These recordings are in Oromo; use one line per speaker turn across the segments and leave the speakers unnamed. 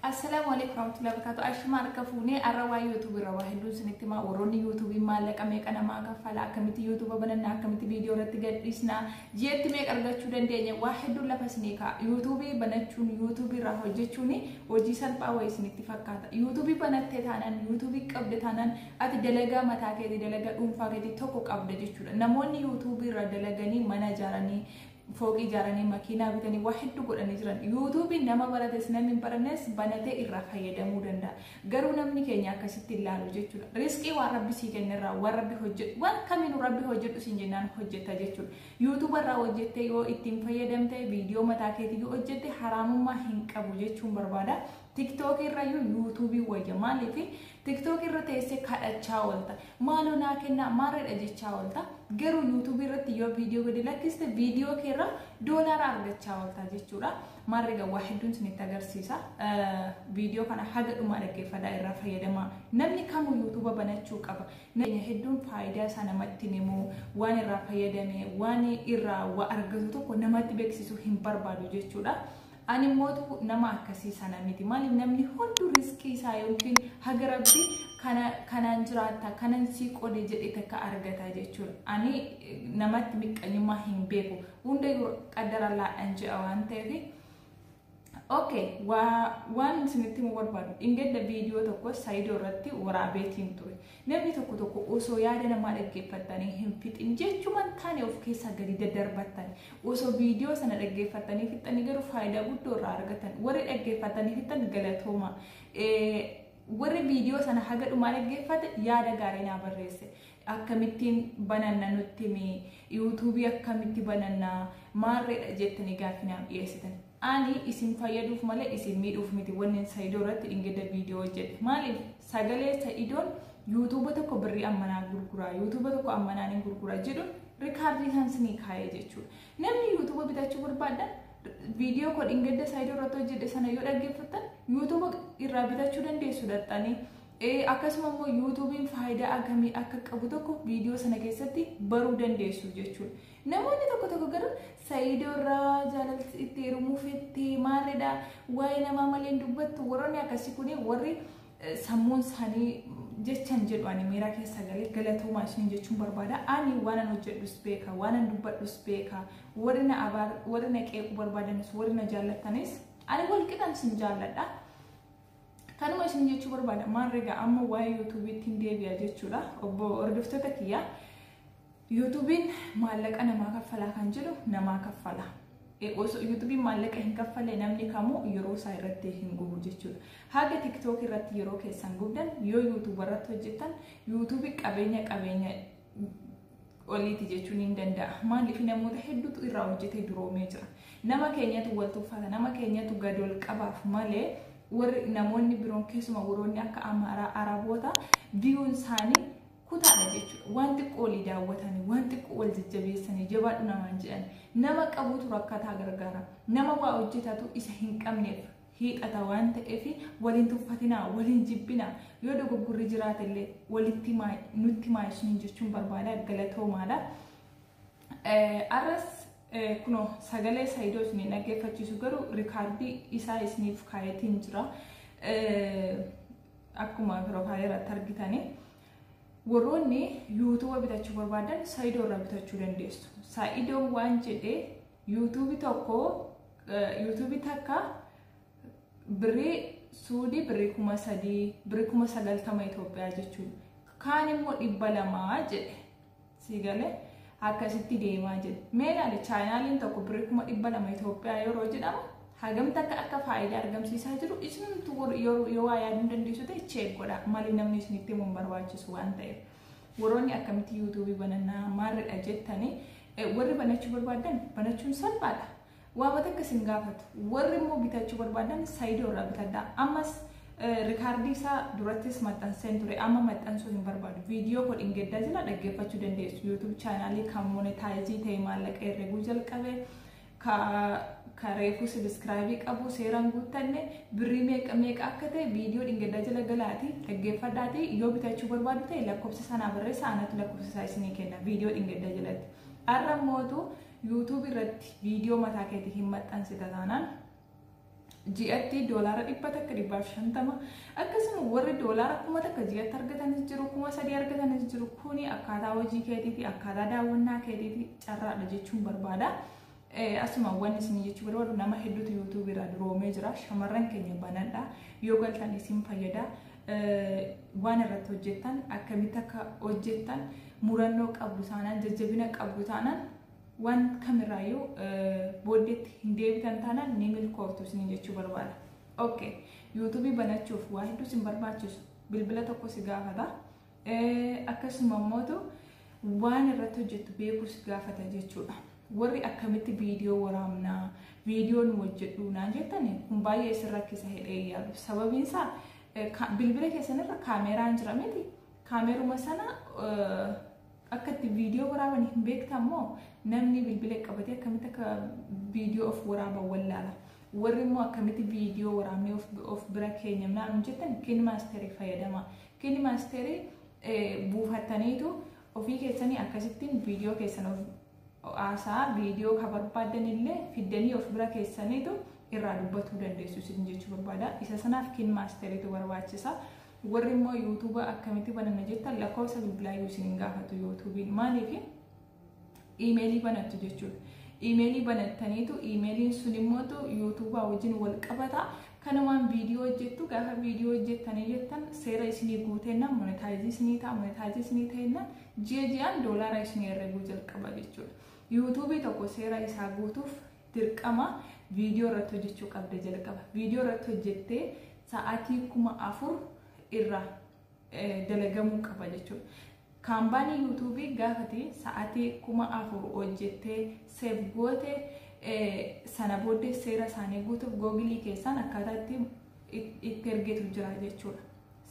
Assalaamu alaikum warahmatullahi wabarakatuh. Ashuma harka fuunee arra waa YouTube irra waa hedduun isinitti himaa warroonni YouTube maallaqa meeqa namaa kaffala akkamitti YouTube bananna akkamitti viidiyoo irratti gadhiisna jeetti meeqa argachuu dandeenya waa hedduun lafa isinii ka'a YouTube banachuun YouTube irraa hojjechuun hojii salphaa wayii isinitti fakkaata YouTube banattee taanaan YouTube qabde taanaan ati dalagaa mataa keetii dalagaa dhuunfaa keetii tokko qabda jechuudha namoonni YouTube irraa dalaganii mana ijaaranii fooqii ijaaranii makiinaa bitanii waa hedduu godhanii jiran yuutuubiin nama barates namni hin barannes banatee irraa fayyadamuu danda'a garuu namni keenya akkasitti hin laalu jechuudha riskii waan rabbi sii kennerraa waan rabbi hojjedhu waan kamiinuu rabbi hojjedhu siin jennaan hojjetta jechuudha yuutuuba irraa hojjettee yoo ittiin fayyadamte viidiyoo mataa keetii yoo hojjette haraamummaa hin qabu jechuun barbaada Tiktookii irrayyuu yuutuubii wayya maaliif tiktookii irra teessee kadhachaa oolta maaloo naa kennaa maarreedha jechaa oolta garuu yuutuubii irratti yoo viidiyoo gadi lakkiste viidiyoo kee irraa doolaara argachaa oolta jechuudha maarreega waa hedduun isinitti agarsiisa viidiyoo kana haga dhumaa dhaggeeffadhaa irraa fayyadamaa namni kamuu yuutuuba banachuu qaba nageenya hedduun faayidaa isaa namatti himu waan irraa fayyadame waan irraa waa argatu tokko namatti beeksisuu hin barbaadu jechuudha. Ani mootu nama akkasii sana miti. Maaliif namni hunduu risqii isaa yookiin haga rabbi kana kanaan jiraatta kanan sii qode jedhe takka argata jechuudha. Ani namatti miqqanyummaa hin beeku. Hundayyuu qaddara laadhaan je'a waan ta'eef. Okay, waa waan isinitti himuu barbaadu. Dhingedda viidiyoo tokko Saidoo irratti waraabeetiin ture. Namni tokko tokko osoo yaada namaa dhaggeeffattanii hin fixin jechuma hin taane of keessaa gadi daddarbattan. Osoo viidiyoo sana dhaggeeffattanii fixxanii garuu faayidaa guddoo irraa argatan. Warri dhaggeeffattanii fixxan galatooma. Warri viidiyoo sana haga dhumaa dhaggeeffate yaada gaarii naa barreesse. Akkamittiin bananna nutti himi, yuutuubii akkamitti bananna, maarreedha jettanii gaaffii naaf dhiyeessitan. Ani isin fayyaduuf malee isin miidhuuf miti wannen Saidoo irratti dhingedda viidiyoo hojjedhe. Maaliif sagalee Saidoon yuutuuba tokko birrii ammanaa gurguraa, yuutuuba tokko ammanaa ni gurgura jedhu rikaardii isaan sinii kaa'ee jechuudha. Namni yuutuuba bitachuu barbaaddan viidiyoo koo dhingedda Saidoo irratti hojjedhe sana yoo dhaggeeffattan yuutuuba irraa bitachuu dandeessu dhaxxanii. Akkasuma immoo yuutuubiin faayidaa akkamii akka qabu tokko viidiyoo sana keessatti baruu dandeessu jechuudha. Namoonni tokko tokko garuu Sayiidoo irraa jaalalti itti heerumuu fettee maalidha waa'ee namaa malee hin dubbattu warroonni akkasii kun warri sammuun isaanii jechan jedhu ani miira keessa galee galatoomaa isiniin jechuun barbaada. Ani waanan hojjedhus beeka, waanan dubbadhus beeka, warri na abaar, warri na qeequu barbaadanis, warri na jaallattanis ani wal qixan sin jaalladha. Kanuma isin jechuu barbaada maarree egaa amma waa'ee yuutuubiitti hin deebi'a jechuudha obbo hordoftoota kiyyaa yuutuubiin maallaqa namaa kaffalaa kan jedhu namaa kaffalaa. osoo yuutuubiin maallaqa hin kaffalle namni kamuu yeroo isaa irratti hin gubu jechuudha. Haga tiktook irratti yeroo keessan gubdan yoo yuutuuba irratti hojjettan yuutuubi qabeenya qabeenya oliiti jechuun hin danda'a. Maaliif namoota hedduutu irraa hojjetee duroomee jira. Nama keenyatu wal tuffata, nama keenyatu gad ol qabaaf malee warri namoonni biroon keessuma warroonni akka Amaaraa, Araboota biyyoon isaanii kutaadha jechuudha. Waan xiqqoo olii daawwatanii, waan xiqqoo wal jajjabeessanii, jabaadhu namaan jedhan. Nama qabutu rakkataa gargaara. Nama waa hojjetatu isa hin qabneef hiixata waan ta'eef wal hin tuffatinaa, wal hin jibbinaa. Yoo dogoggorri jiraate illee walitti himaa, nutti himaa isiniin jechuun barbaada. Galatoomaadha. Eh, Arras eh, kunoo sagalee Saayidoo isin hin dhaggeeffachiisu garuu rikaardii isaa isiniif kaayetiin jira. Eh, Akkuma piroofaayilii irratti argitanii. warroonni yuutuuba bitachuu barbaadan saayidoo irraa bitachuu dandeessu. Saayidoon waan jedhee yuutuubi tokko yuutuubi takka birrii suudii birrii kuma sadii birrii kuma sagaltama Itoophiyaa jechuudha. Kaan immoo dhibba lamaa jedhe sii galee akkasitti deemaa jedhe. Mee ilaali chaayinaaliin tokko birrii kuma dhibba lama Itoophiyaa yeroo jedhamu hagam takka akka faayidaa argamsiisaa jiru isinumtu yoo waa yaaduu dandeessu ta'e cheek godha malee namni isinitti himuun barbaachisu waan ta'eef. Warroonni akkamitti yuutuubii banannaa maalidha jettanii warri banachuu barbaadan banachuun salphaadha. Waama takka isin gaafatu. Warri immoo bitachuu barbaadan saayidoo irraa bitadha. Ammas rikaardii isaa durattis maxxanseen ture. Amma maxxansuu hin barbaadu. Viidiyoo koo dhingeddaa jala dhaggeeffachuu dandeessu. Yuutuub chaanaalii kan monetaayizii ta'e maallaqa herreguu jalqabe. ka ka reefuu sabiskiraayibii qabu seeraan guuttanne birrii meeqa meeqa akka ta'e viidiyoo dhingaddaa jala galaati dhaggeeffadhaati yoo bitachuu barbaadu ta'e lakkoofsa sanaa barreessa anatu lakkoofsa isaa isinii kenna viidiyoo dhingaddaa jalatti har'a mootu yuutuubii irratti viidiyoo mataa keetii hin maxxansita taanaan ji'atti doolaara dhibba takka dhibbaaf shantama akkasuma warri doolaara kuma takka ji'atti argatanis jiru kuma sadii argatanis jiru kuni akkaataa hojii keetiiti akkaataa daawwannaa keetiiti carraadha jechuun barbaada. Asuma wanni isin jechuu barbaadu nama hedduutu yuutuubii irraa duroomee jira shamarran keenya banadha yoo galtan isin fayyada waan irratti hojjettan akkamitti akka hojjettan murannoo qabdu taanaan jajjabina qabdu taanaan waan kamirraayyuu booddeetti hin deebitan taanaan ni milkooftu isiniin jechuu barbaada. Ok, yuutuubii banachuuf waa hedduu isin barbaachisu bilbila tokko si gaafata. Akkasuma immoo waan irratti hojjettu beekuu si gaafata jechuudha. Warri akkamitti viidiyoo waraabnaa, viidiyoo nu hojjedhu naan jettan kun baay'ee isin rakkisa hidhee yaadu. Sababiin isaa bilbila keessanirra kaameeraan jira miti. Kaameeruma sana Akka itti viidiyoo waraaban hin beektan moo namni bilbila qabatee akkamitti akka viidiyoo of waraaban wallaala. Warri immoo akkamitti viidiyoo waraabnee of, of bira keenya naannoo jettan kiin maasterii fayyadamaa. Kiin maasterii eh, buufattaniitu ofii keessanii akkasittiin viidiyoo keessan of haasaa viidiyoo ka barbaadan illee fiddanii of bira keessaniitu irraa dubbatuu dandeessu isin jechuu barbaada. Isa sanaaf kiin maasteriitu barbaachisa. Warri immoo yuutuuba akkamitti bananna jettan lakkoofsa bilbilaa iyyuu isin hin gaafatu yuutuubiin maaliif iimeelii banattu jechuudha. Iimeelii banattaniitu iimeeliin sun immoo yuutuubaa wajjin wal qabata. Kanumaan viidiyoo hojjettu gaafa viidiyoo hojjettanii jettan seera isinii guutennaan monetaayizii isinii ta'a monetaayizii isinii ta'ennaan ji'a ji'aan doolaara isinii herreguu jalqaba jechuudha. Yuutuubii tokko seera isaa guutuuf dirqama viidiyoo irratti hojjechuu qabda jalqaba. Viidiyoo irratti hojjettee sa'aatii kuma afur irra dalagamuu qaba jechuudha. Kaambaanii yuutuubii gaafate sa'aatii kuma afur hojjettee seef goote sana booddee seera isaanii guutuuf googilii keessaan akkaataa itti ergitu jira jechuudha.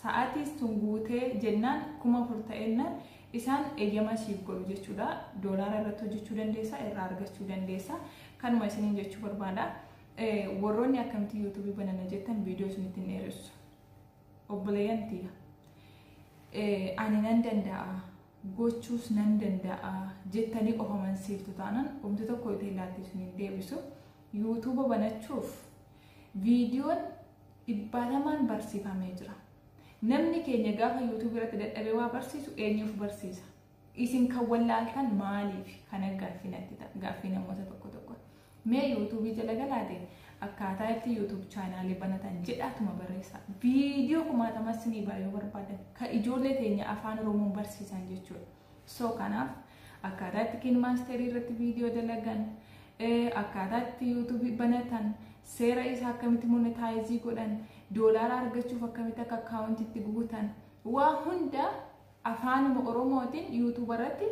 Sa'aatiis tun guutee jennaan kuma afur ta'ennaan isaan eyyama siif godhu jechuudha. Doolaara irratti hojjechuu dandeessa, irraa argachuu dandeessa. Kanuma isiniin jechuu barbaada. Warroonni akkamitti yuutuubii banana jettan viidiyoo isinitti hin dheeressu. Obboleeyyan tiyya. Ani nan danda'a. gochuus nan danda'a jettanii of amansiiftu taanaan wanti tokko ittiin laattisu hin deebisu. Yuutuuba banachuuf viidiyoon dhibbatamaan barsiifamee jira. Namni keenya gaafa YouTube irratti dadhabee waa barsiisu eenyuuf barsiisa? Isin kan wallaaltan maaliif? Kana gaaffii natti ta'a. Gaaffii namoota tokko tokko. Mee YouTube jala galaate akkaataa itti YouTube chaanaalii banatan jedhaatuma barreessa. Viidiyoo kumaatama isinii baay'ee barbaadan kan ijoollee keenya afaan Oromoon barsiisan jechuudha. So kanaaf akkaataa itti kiin maasterii irratti viidiyoo dalagan akkaataa itti yuutuubii banatan seera isaa akkamitti monetaayizii godhan doolaara argachuuf akkamitti akka akkaawuntiitti guutan waa hunda afaanuma oromootiin yuutuuba irratti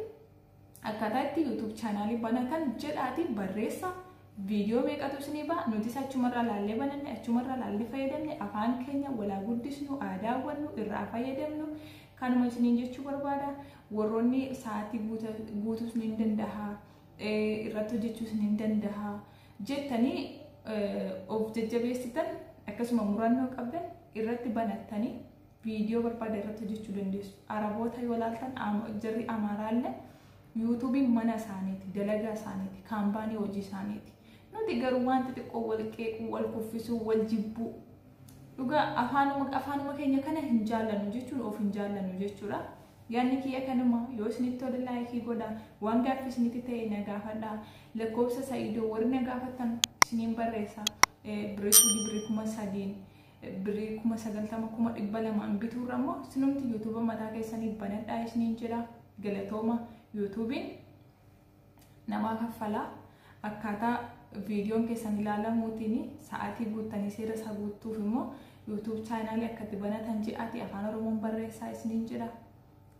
akkaataa itti yuutuub chaanaalii banatan jedhaatii barreessa viidiyoo meeqatu isinii ba'a nutis achumarraa laallee bananne achumarraa laallee fayyadamne afaan keenya walaa guddisnu aadaa wannu irraa fayyadamnu Kanuma isiniin jechuu barbaada. Warroonni sa'aatii guuta- guutuus ni danda'a, eh, irratti hojjechuus ni danda'a jettanii eh, of jajjabeessitan akkasuma murannoo qabdan irratti banattanii viidiyoo barbaada irratti hojjechuu dandeessu. Araboota yoo laaltan am- jarri Amaaraallee yuutuubiin mana isaaniiti, dalagaa isaaniiti, kaampaanii hojii isaaniiti. Nuti garuu wanti xiqqoo wal qeequu, wal kuffisuu, wal jibbuu Dhugaa afaanuma afaanuma keenya kana hin jaallannu jechuun of hin jaallannu jechuudha. Yaadni kiyya kanuma yoo isinitti tole laayikii godha waan gaaffii isinitti ta'e na gaafadha. Lakkoofsa Sa'iidoo warri na gaafattan isiniin barreessa. Birrii suudii birrii kuma sadiin birrii kuma sagaltama kuma dhibba lamaan bituurra immoo sinumti yuutuuba mataa keessanii banadhaa isiniin jedha. Galatooma yuutuubiin namaa kaffala. Akkaataa viidiyoon keessan ilaalamuutiin sa'aatii guuttanii seera isaa guuttuuf immoo YouTube chaanaalii akka itti banatan ji'aati afaan oromoon barreessaa isiniin jedha.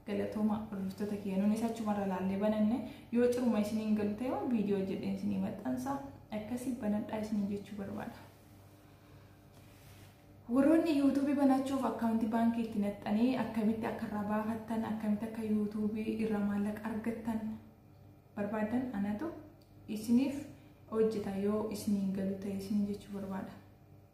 Galatooma hordoftoota kiyya nuunis achumarra laallee bananne yoo ciruma isiniin galu ta'e waan viidiyoo jedheen isinii maxxansa akkasii banadhaa isiniin jechuu barbaada. Warroonni yuutuubii banachuuf akkaawuntii baankii itti naxxanii akkamitti akka irraa baafattan akkamitti akka yuutuubii irraa maallaqa argattan barbaadan anatu isiniif hojjeta yoo isiniin galu ta'e isiniin jechuu barbaada.